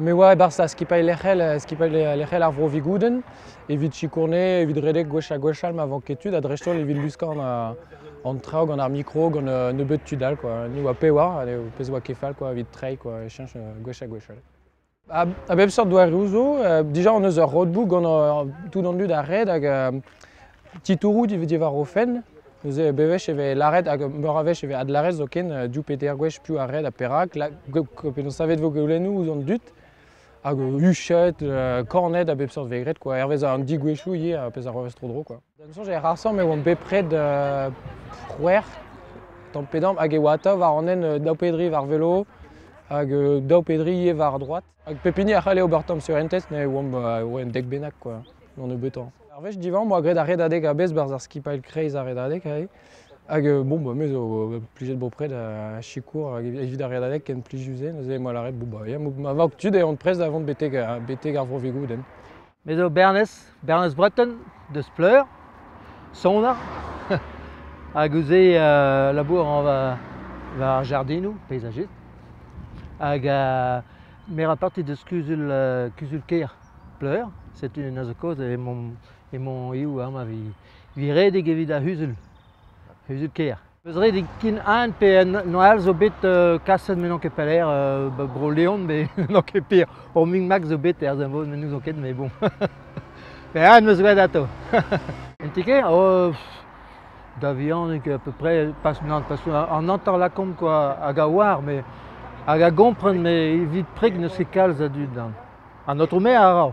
Me oa e-barzh skipailh lec'hel, skipailh lec'hel ar Vro Vigoudenn evit sikourne, evit redek gwech ha gwech all ma vank ket tud ha dreist-holl evit luskañ an traoù gant ar mikro, gant nebeut tud all quoi. Ni oa pezh oa, pezh oa ket fall quoi evit treiñ quoi, e cheñch gwech ha gwech all. A bep seurt doareoù zo, dija on eus ur roadbook gant tout an dud a red hag Titouroù diwar o fenn, neuze bewech e vez lâret hag meur a wech e vez adlâret zoken div pe teir gwech piv a red ha perak. Penaos savet vo goulennoù ouzh an dud hag huchet, kanet a bep seurt vez graet quoi, hervez an digouezhioù ivez, ar pezh a ro tro-dro quoi. D'am soñj ec'h asomp e oamp bepred c'hwec'h tamm pe damm hag e oa atav war an hent daou pedri war velo hag daou pedri ivez war droad. Hag pep hini a c'halle ober tamm surentez, ne oamp en dek bennak quoi, d'an nebeutañ. Ar wech divent, moi graet ar redadeg a-bezh barzh ar skipailh kreiz ar redadeg aze. Hag bon, bah, me zo plijet bopred a sikour evit ar redadeg ken plijus-se. Neuze, moi lâret, bon bah, ma vag tud eont prest da vont betek ar Vro-Vigoudenn. Me zo Bernez, Bernez Breton, deus Pleur, soner. Hag ouzh-se euh, labour rañ war, war ar jardinoù paysajet. Hag euh, me ra parti deus kuzul euh, kuzul-kêr Pleur. Setu un azokaoz e mon e mon eo amañ vi, vi redek evit ar c'huzul, c'huzul-kêr. Eus ret eo ken aon pe Noël zo bet kaset met n'on ket pelec'h, ba Bro-Leon met n'on ket pir. Ur Migmac zo bet er Senvoz met n'ouzon ket mais bon. Pe aon 'm eus graet atav. En ti-kêr? Oh, da vihanik à peu près, pas, non, parce qu'on entend la combe quoi, hag a oar mais hag a gompren mais evit preg n'eus ket kalz a dud. An Aotrou Maire a ra.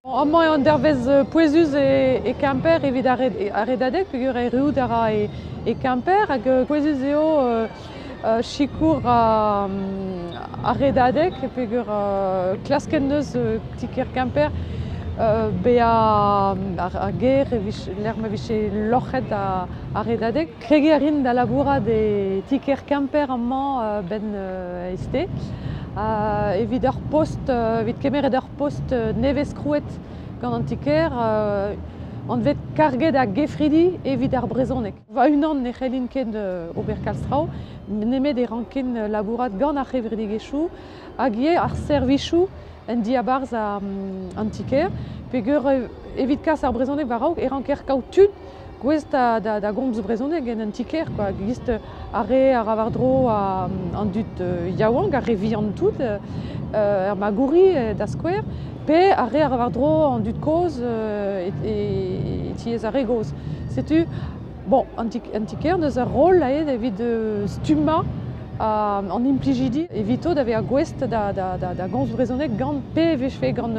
Amañ eo an dervezh pouezus e Kemper evit ar redadeg peogwir erruout a ra e Kemper hag pouezus eo sikour ar redadeg peogwir klask en deus ti-kêr Kemper bezañ ar gêr lec'h ma vije loc'het ar redadeg. Kregiñ a rin da labourat e ti-kêr Kemper amañ a-benn e sted. Evit ur post, evit kemeret ur post nevez-krouet gant an ti-kêr, anvet karget a gefridi evit ar brezhoneg. Va-unan ne c'hellin ket ober kalz traoù, nemet e rankin labourat gant ar c'hevredigezhioù hag ivez ar servijoù en diabarzh an ti-kêr, peger evit kas ar brezhoneg war-raok e ranker kaout tud gouest da gomz brezhoneg en un ti-kêr quoi. Gist ar re a ra war-dro an dud yaouank, ar re vihan tout, er Magouri da skouer, pe ar re a ra war-dro an dud kozh e tiez ar re gozh. Setu bon, an ti-kêr n'eus ur roll aet evit stummañ an implijidi evito da vezañ gouest da gomz brezhoneg gant pe e vijfe gant